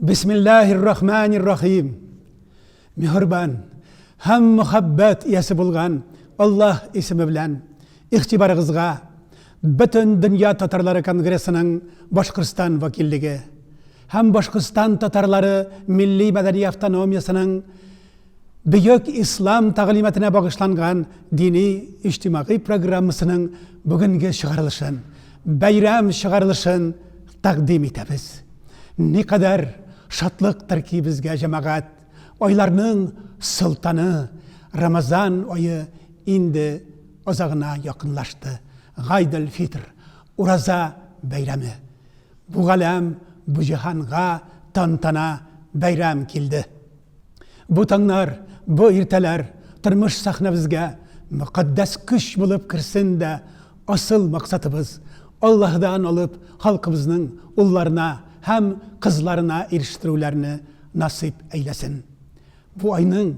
Бисмиллаһир рахманир рахим. Мехрибан һәм мөхәббәт иясе булган Аллаһ исеме белән игътибарыгызга Бөтен дөнья татарлары конгрессының Башкортстан вәкиллеге һәм Башкортстан татарлары милли-мәдәни автономиясенең Бөек Ислам тәгълиматына багышланган дини-иҗтимагый программасының бүгенге чыгарылышын, бәйрәм чыгарылышын тәкъдим итәбез. Никадәр шатлык терки безгә җәмәгать, айларның солтаны, Рамазан ае инде азагына якынлашты, Гайд-эль-Фитр, Ураза бәйрәме. Бу галәм, бу җиһанга тантана, бәйрәм килде. Бу таңнар, бу иртәләр тормыш сәхнәбезгә мөкатдәс көч булып керсен дә, асыл максатыбыз, Аллаһыдан алып, халкыбызның улларына һәм кызларына ирештерүләрне насыйп әйләсен. Бу айның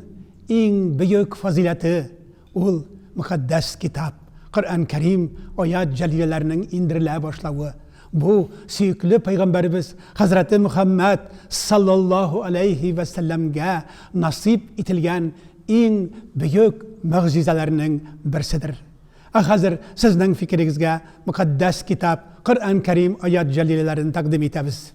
иң бөек фазыйләте, Ул, Мөкатдәс Китап, Коръән Кәрим, аят җәлиләләренең индерелә башлавы, бу, сөекле пәйгамбәребез хәзрәте Мөхәммәд салләллаһу аләйһи вә сәлләмгә насыйп ителгән иң бөек могҗизаләрнең берседер. Ә хәзер сезнең фикерегезгә Мөкатдәс Китап, Коръән Кәрим аят җәлиләләрен тәкъдим итәбез.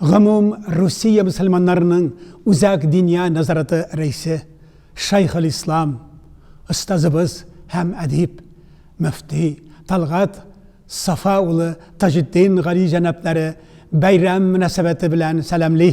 Гомум Русия мөселманнарының Үзәк Диния нәзарәте рәисе, шәйхелислам, остазыбыз һәм әдип, мөфти Талгат Сафа улы Таҗетдин Гали җәнаплары бәйрәм мөнәсәбәте белән сәламли.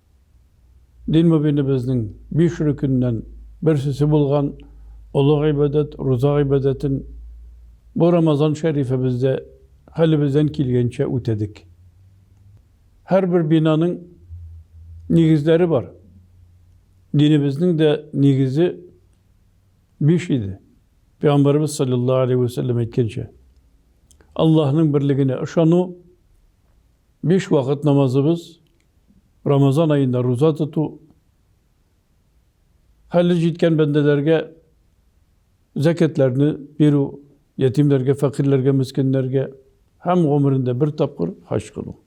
Дин мөбинебезнең биш рөкеннән берсесе булган олы гыйбадәт, руза гыйбадәтен бу Рамазан шәрифебездә хәлебездән килгәнчә үтәдек. Һәрбер бинаның нигезләре бар. Динебезнең дә нигезе биш иде. Пәйгамбәребез салләллаһу алейһи вә сәлләм әйткәнчә, Аллаһның берлегенә ышану, биш вакыт намазыбыз, Рамазан аенда руза тоту, хәле җиткән бәндәләргә зәкәтләрне бирү, ятимләргә, фәкыйрьләргә, мескеннәргә һәм гомерендә бер тапкыр хаҗ кылу.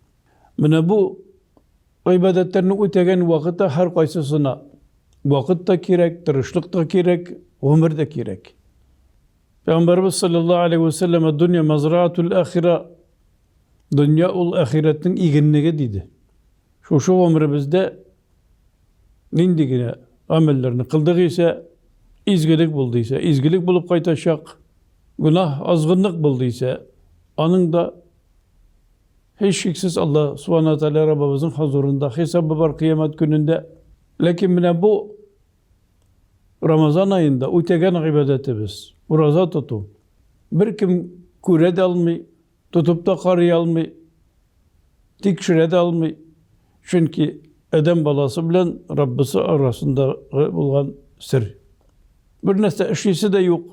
Менә бу гыйбадәтләрне үтәгән вакытта һәр кайсысына вакыт та кирәк, тырышлык та кирәк, гомер дә кирәк. Пәйгамбәрбез саллаллаһу алейхи ва сәлләм дөнья мазраатул ахира дөнья ул ахирәтнең игенлеге диде. Шушы гомеребездә нинди генә гамәлләрне кылдык исә, изгелек булды исә, изгелек булып кайтачак, гөнаһ, азгынлык булды исә, аның да һич шиксез Алла Субхана Тәгалә Раббыбызның хозурында хисабы бар кыямәт көнендә. Ләкин менә бу Рамазан аенда үтәгән гыйбадәтебез, ураза тоту. Беркем күрә дә алмый, тотып та карый алмый, тикшерә дә алмый. Чөнки адәм баласы белән Раббысы арасындагы булган сер. Бер нәрсә эшлисе дә юк.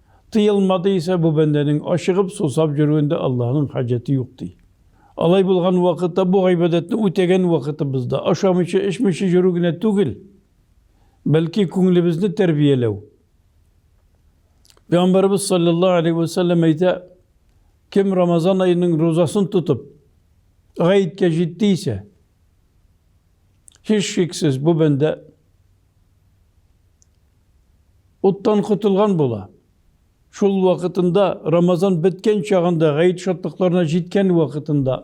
Тыелмады исә бу бәндәнең ашыгып, сусап йөрүендә Аллаһының хаҗәте юк, ди. Алай булган вакытта бу гыйбадәтне үтәгән вакытыбызда ашамыйча, эчмичә йөрү генә түгел, бәлки күңелебезне тәрбияләү. Пәйгамбәребез салләллаһу алейһи вә сәлләм әйтә, кем Рамазан аеның рузасын тотып, гаеткә җитте исә, һичшиксез бу бәндә Уттан котылган була. Шул вакытында, Рамазан беткән чагында, гает шатлыкларына җиткән вакытында,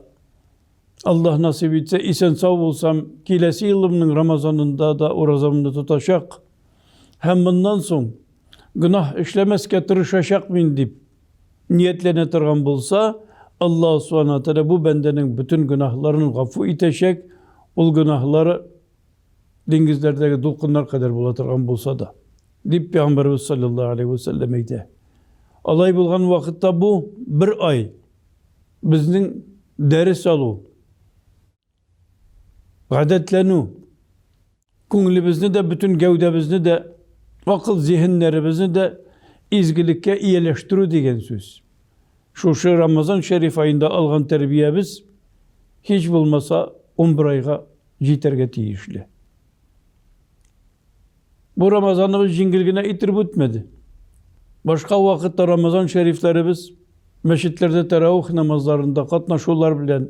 Аллаһ насыйп итсә, исән сау булсам, киләсе елымның Рамазанында да уразамны тотачак. Һәм моннан соң гөнаһ эшләмәскә тырышачак мин дип ниятләнә торган булса, Аллаһ Субхану тәгалә бу бәндәнең бөтен гөнаһларын гафу итәчәк, ул гөнаһлары диңгезләрдәге дулкыннар кадәр була торган булса да, дип пәйгамбәрбез саллаллаһу алейһи ва сәлләм әйтә. Алай булган вакытта бу бер ай безнең дәрес алу, гадәтләнү, күңелебезне дә, бөтен гәүдәбезне дә, акыл зиһеннәребезне дә изгелеккә ияләштерү дигән сүз. Шушы Рамазан шәриф аенда алган тәрбиябез һич булмаса 11 айга җитәргә тиешле. Бу Рамазаныбыз җиңел генә иттереп үтмәде. Башка вакытта Рамазан шәрифләребез мәчетләрдә тәрәвих намазларында катнашулар белән,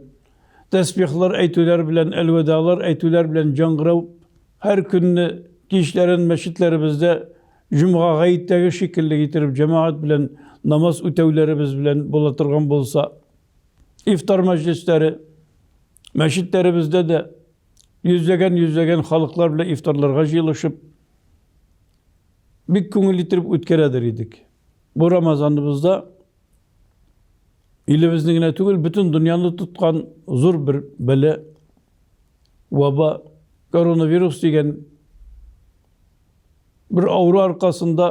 тәсбихлар әйтүләр белән, әлвәдалар әйтүләр белән җаңгырау һәр көнне кичләрен мәчетләребездә җомга гаеттәге шикелле иттереп җәмәгать белән намаз үтәүләребез белән була торган булса, ифтар мәҗлесләре Мәчетләребездә дә йөзләгән-йөзләгән халыклар белән ифтарларга җыелышып, бик күңел итеп үткәрәдер идек. Бу Рамазаныбызда илебезне генә түгел, бөтен дөньяны тоткан зур бер бәлә, ваба, коронавирус дигән бер авыру аркасында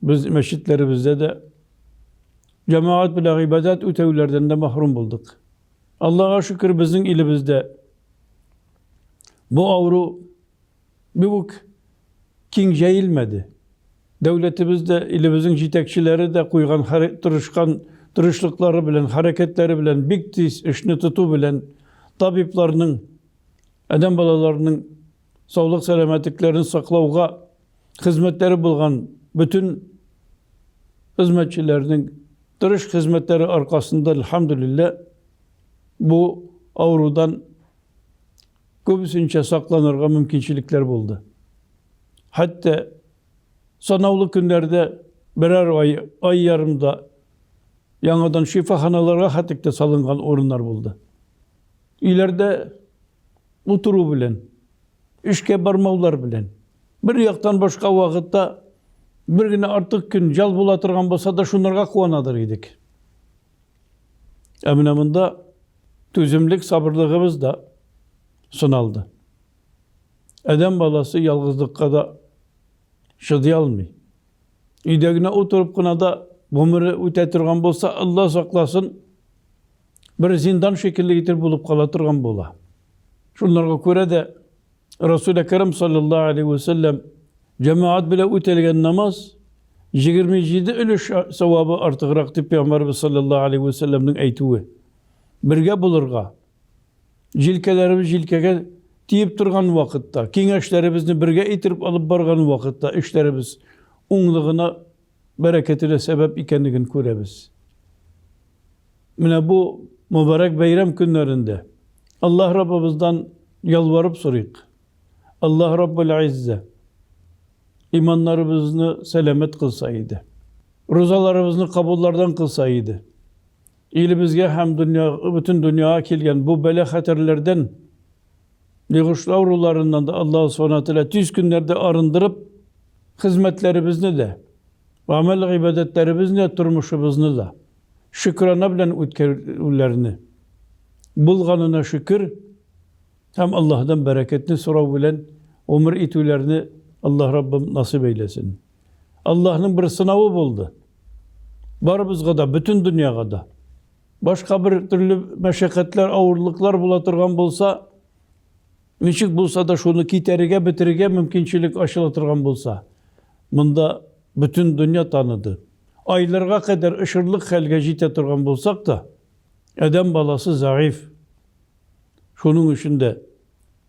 Без мәчетләребездә дә җәмәгать белән гыйбадәт үтәүләрдән дә мәхрүм булдык. Аллага шөкер, безнең илебездә бу авыру бик үк киң җәелмәде. Дәүләтебез дә, илебезнең җитәкчеләре дә куйган тырышкан тырышлыклары белән, хәрәкәтләре белән, бик тиз эшне тоту белән табибларның, адәм балаларының саулык сәламәтлекләрен саклауга хезмәтләре булган бөтен хезмәтчеләрнең тырыш хезмәтләре аркасында, әлхәмдүлиллә, бу авырудан күбесенчә сакланырга мөмкинчелекләр булды. Хәтта санаулы көннәрдә берәр ай, ай ярымда яңадан шифаханаларга хәтиктә салынган урыннар булды. Өйләрдә утыру белән, эшкә бармаулар белән. Бер яктан башка вакытта бер генә артык көн ял була торган булса да шунырга куанадыр идек. Ә менә монда түземлек, сабырлыгыбыз да сыналды. Адәм баласы ялгызлыкка да шыдый алмый. Өйдә генә утырып кына да гомере үтә торган булса, Алла сакласын, бер зиндан шикелле итеп булып кала торган була. Шунларга күрә дә Расул Әкрәм саллаллаһу алейхи ва саллям җәмәгать белән үтәлгән намаз 27 өлеш савабы артыграк дип Пәйгамбәрбез саллаллаһу алейхи ва саллямның әйтүе. Бергә булырга, җилкәләребез җилкәгә тиеп торган вакытта, киңәшләребезне бергә итеп алып барган вакытта эшләребез уңлыгына бәрәкәте дә сәбәп икәнлеген күрәбез. Менә бу мөбарәк бәйрәм көннәрендә Аллаһ Раббыбыздан ялварып сорыйк. Аллаһ Раббул Иззә иманнарыбызны сәламәт кылса иде. Рузаларыбызны кабуллардан кылса иде. Илебезгә һәм дөнья, бөтен дөньяга килгән бу бәла-хәтәрләрдән Йогышлы авыруларыннан да Аллаһу Субхана Тәгалә тиз көннәрдә арындырып, хезмәтләребезне дә, гамәл гыйбадәтләребезне дә, тормышыбызны да шөкрана белән үткәрүләрне, булганына шөкер һәм Аллаһыдан бәрәкәтне сорау белән гомер итүләрне Аллаһ Раббым насыйп әйләсен. Аллаһның бер сынавы булды. Барыбызга да, бөтен дөньяга да. башка бер төрле мәшәкатьләр, авырлыклар була торган булса, ничек булса да шуны китерергә, бетерергә мөмкинчелек ачыла торган булса, монда бөтен дөнья таныды. Айларга кадәр ышырлык хәлгә җитә торган булсак та, адәм баласы зәгыйфь. Шуның өчен дә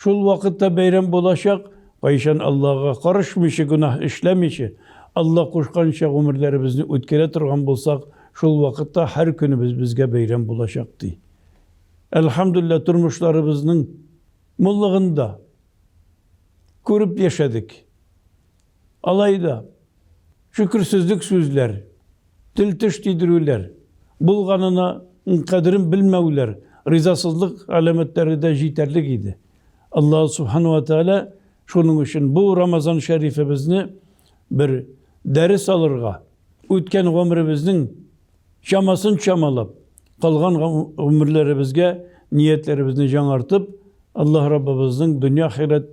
Шул вакытта бәйрәм булачак, кайчан Аллага карышмыйча, гөнаһ эшләмичә, Алла кушканча гомерләребезне үткәрә торган булсак, шул вакытта һәр көнебез безгә бәйрәм булачак, ди. Әлхәмдүлилләһ, тормышларыбызның муллыгын да күреп яшәдек. Алай да, шөкерсезлек сүзләр, тел-теш тидерүләр, булганына кадерен белмәүләр, ризасызлык галәмәтләре дә җитәрлек иде. Аллаһ Субхану ва Тәгалә шуның өчен бу Рамазан шәрифебезне бер дәрес алырга, үткән гомеребезнең чамасын чамалап, калган гомерләребезгә ниятләребезне җаңартып, Аллаһ Раббыбызның дөнья ахирәт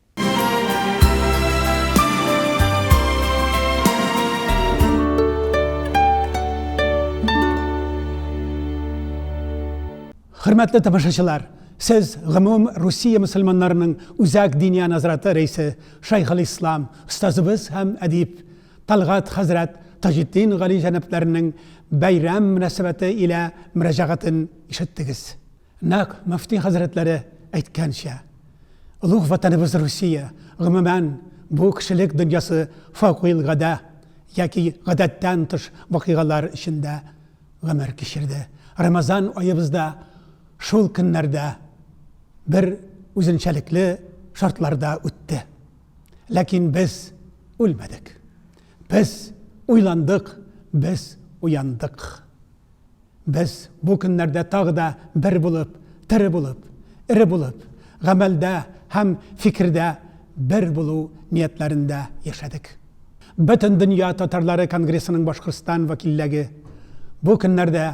Хөрмәтле тамашачылар, сез гомум Русия мусульманнарының үзәк диния назраты рәисе Шайхул Ислам, остазыбыз һәм әдип Талгат хәзрәт Таҗетдин Гали җәнапларының бәйрәм мөнәсәбәте илә мөрәҗәгатен ишеттегез. Нәкъ мөфти хәзрәтләре әйткәнчә, олуг Ватаныбыз Русия, гомумән, бу кешелек дөньясы фәүкыйлгадә яки гадәттән тыш вакыйгалар эчендә гомер кичерде. Рамазан аебыз да шул көннәрдә, бер үзенчәлекле шартларда үтте. Ләкин без үлмәдек. Без уйландык, без уяндык. Без бу көннәрдә тагы да бер булып, тере булып, эре булып, гамәлдә һәм фикердә бер булу ниятләрендә яшәдек. Бөтен дөнья татарлары конгрессының Башкортстан вәкилләге бу көннәрдә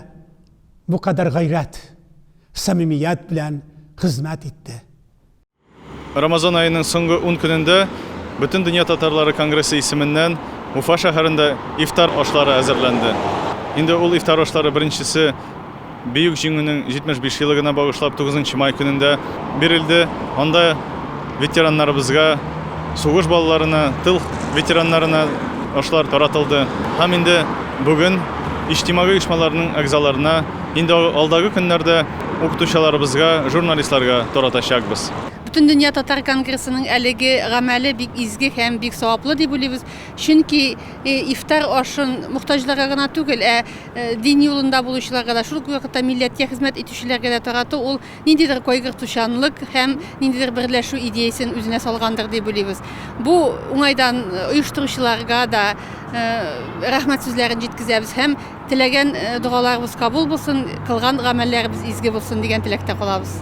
бу кадәр гайрәт, самимият белән хезмәт итте. Рамазан аеның соңгы ун көнендә Бөтендөнья татарлары конгрессы исеменнән Уфа шәһәрендә ифтар ашлары әзерләнде. Инде ул ифтар ашлары беренчесе Бөек Җиңүнең 75 елыгына багышлап 9 нчы май көнендә бирелде. Анда ветераннарыбызга, сугыш балаларына, тыл ветераннарына ашлар таратылды. Һәм инде бүген иҗтимагый оешмаларның әгъзаларына инде алдагы көннәрдә Укытучыларыбызга, журналистларга таратачакбыз. Бөтендөнья татар конгрессының әлеге гамәле бик изге һәм бик саваплы дип уйлыйбыз. Чөнки ифтар ашын мохтаҗларга гына түгел, ә дин юлында булучыларга да, шул ук вакытта милләткә хезмәт итүчеләргә дә тарату ул ниндидер кайгыртучанлык һәм ниндидер берләшү идеясен үзенә салгандыр дип уйлыйбыз. Бу уңайдан оештыручыларга да рәхмәт сүзләрен җиткезәбез һәм Теләгән догаларыбыз кабул булсын, кылган гамәлләребез изге булсын дигән теләктә калабыз.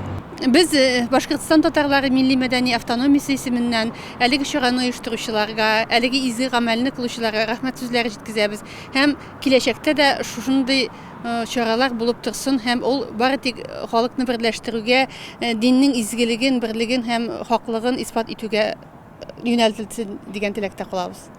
Без Башкортстан татарлары милли-мәдәни автономиясе исеменнән әлеге чараны оештыручыларга, әлеге изге гамәлне кылучыларга рәхмәт сүзләре җиткезәбез һәм киләчәктә дә шушындый чаралар булып торсын һәм ул бары тик халыкны берләштерүгә, диннең изгелеген, берлеген һәм хаклыгын исбат итүгә юнәлтелсен дигән теләктә калабыз.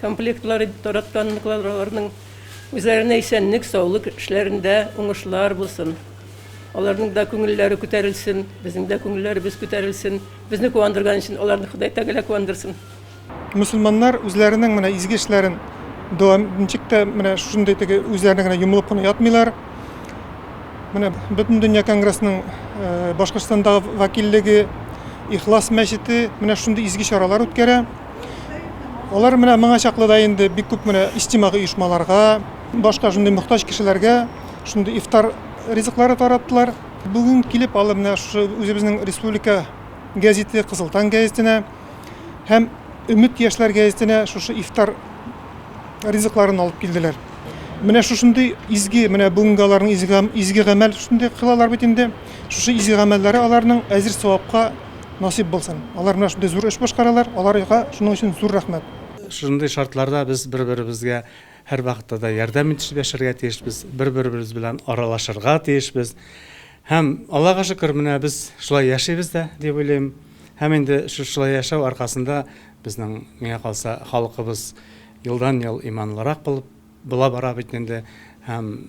комплектлары таратканлыкларының үзләренә исәнлек саулык эшләрендә уңышлар булсын аларның да күңелләре күтәрелсен безнең дә күңелләребез күтәрелсен безне куандырган өчен аларны ходай тәгалә куандырсын. Мөселманнар үзләренең менә изге эшләрен дәвам ничек тә менә шушындый теге үзләренә генә йомылып кына ятмыйлар. Менә Бөтендөнья конгрессының Башкортстандагы вәкиллеге, Ихлас мәчете менә шушындый изге чаралар үткәрә. Алар менә моңа чаклы да инде бик күп менә истимагый оешмаларга, башка шундый мохтаҗ кешеләргә шундый ифтар ризыклары тараттылар. Бүген килеп алып менә шушы үзебезнең республика газеты Кызыл таң газетына һәм Өмет яшьләр газетына шушы ифтар ризыкларын алып килделәр. Менә шушындый изге, менә бүгенге аларның изге, изге гамәл шушындый кылалар бит инде. Шушы изге гамәлләре аларның әзер савапка Насыйп булсын. Алар менә шундый зур эш башкаралар, аларга шуның өчен зур рәхмәт. Шундый шартларда без бер-беребезгә һәрвакытта да ярдәм итешеп яшәргә тиешбез, бер-беребез белән аралашырга тиешбез. Һәм, Аллага шөкер, менә без шулай яшибез дә, дип уйлыйм. Һәм инде шулай яшәү аркасында безнең, миңа калса, халкыбыз елдан-ел иманлырак булып була бара бит инде. Һәм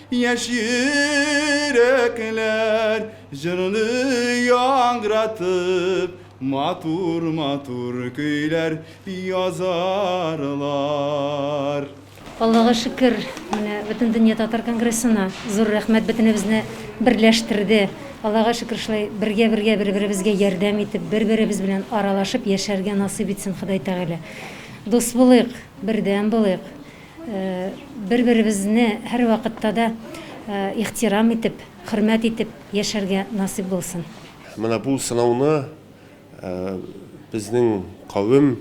Яшь йөрәкләр җырны яңгыратып, матур-матур көйләр язарлар. Аллага шөкер, менә Бөтендөнья татар конгрессына зур рәхмәт, бөтенебезне берләштерде. Аллага шөкер, шулай бергә-бергә, бер-беребезгә ярдәм итеп, бер-беребез белән аралашып яшәргә насыйп итсен Ходай Тәгалә. Дус булыйк, бердәм булыйк. Бер-беребезне һәрвакытта да ихтирам итеп, хөрмәт итеп яшәргә насыйп булсын. Менә бу сынауны безнең кавем,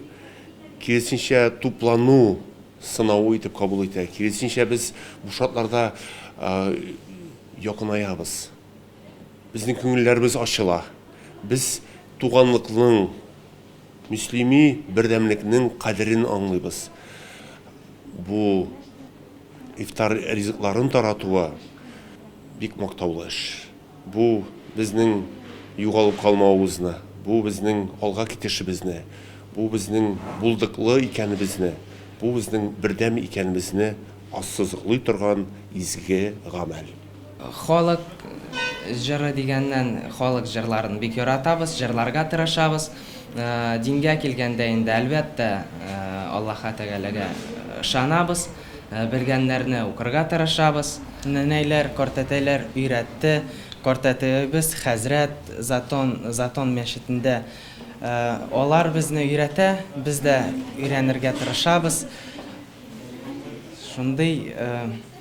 киресенчә, туплану сынавы итеп кабул итә. Киресенчә, без бу шартларда якынаябыз. Безнең күңелләребез ачыла. Без туганлыкның. Мөслими бердәмлекнең кадерен аңлыйбыз. Бу ифтар ризыкларын таратуы бик мактаулы эш. Бу безнең югалып калмавыбызны, бу безнең алга китешебезне, бу безнең булдыклы икәнебезне, бу безнең бердәм икәнебезне ассызыклый торган изге гамәл. Халык җыры дигәннән, халык җырларын бик яратабыз, җырларга тырышабыз. Дингә килгәндә инде, әлбәттә, Аллаһка Тәгаләгә ышанабыз, белгәннәрне укырга тырышабыз. Нәнәйләр, картәтәйләр өйрәтте. Картәтәебез хәзрәт Затон, Затон мәчетендә. Алар безне өйрәтә, без дә өйрәнергә тырышабыз. Шундый.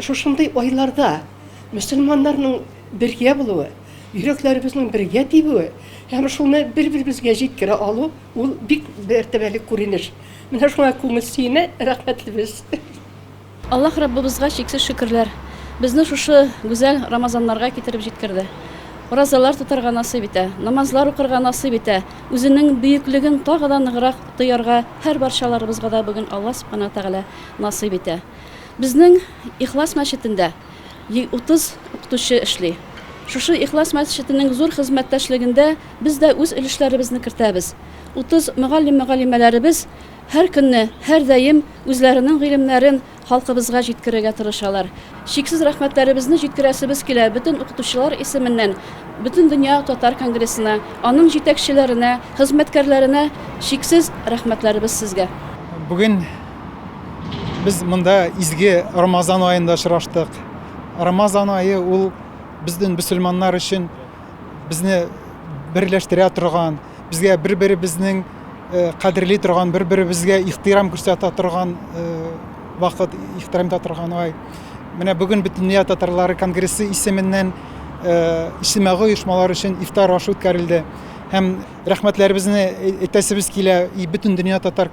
Шушындый айларда мөселманнарның бергә булуы, йөрәкләребезнең бергә тибүе һәм шуны бер-беребезгә җиткерә алу, ул бик мәртәбәле күренеш. Менә шуңа күңел сөенә, рәхмәтлебез. Аллаһ Раббыбызга чиксез шөкерләр, безне шушы гүзәл Рамазаннарга китереп җиткерде. Уразалар тотарга насыйп итә, намазлар укырга насыйп итә, Үзенең бөеклеген тагы да ныграк тоярга һәрбарчаларыбызга да бүген Аллаһ Субхана Тәгалә насыйп итә. Безнең Ихлас мәчетендә 30 укытучы эшли. Шушы Ихлас мәчетенең зур хезмәттәшлегендә без дә үз өлешләребезне кертәбез. 30 мөгаллим-мөгаллимәләребез һәркөнне, һәрдаим үзләренең гыйлемнәрен халкыбызга җиткерергә тырышалар. Чиксез рәхмәтләребезне җиткерәсебез килә бөтен укытучылар исеменнән Бөтендөнья татар конгрессына, аның җитәкчеләренә, хезмәткәрләренә чиксез рәхмәтләребез сезгә. Бүген Без монда изге Рамазан аенда очраштык. Рамазан ае ул безнең мөселманнар өчен безне берләштерә торган, безгә бер-беребезнең э, кадерли торган, бер-беребезгә ихтирам күрсәтә торган э, вакыт, ихтирам итә торган ай. Менә бүген Бөтендөнья татарлары конгрессы исеменнән э, иҗтимагый оешмалар өчен ифтар ашы үткәрелде. Һәм рәхмәтләребезне әйтәсебез килә и бөтен дөнья татар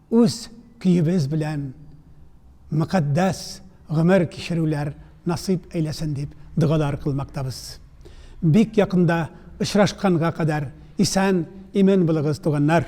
Үз көебез белән мөкатдәс гомер кичерүләр насыйп әйләсен дип догалар кылмактабыз. Бик якында очрашканга кадәр исән имен булыгыз туганнар!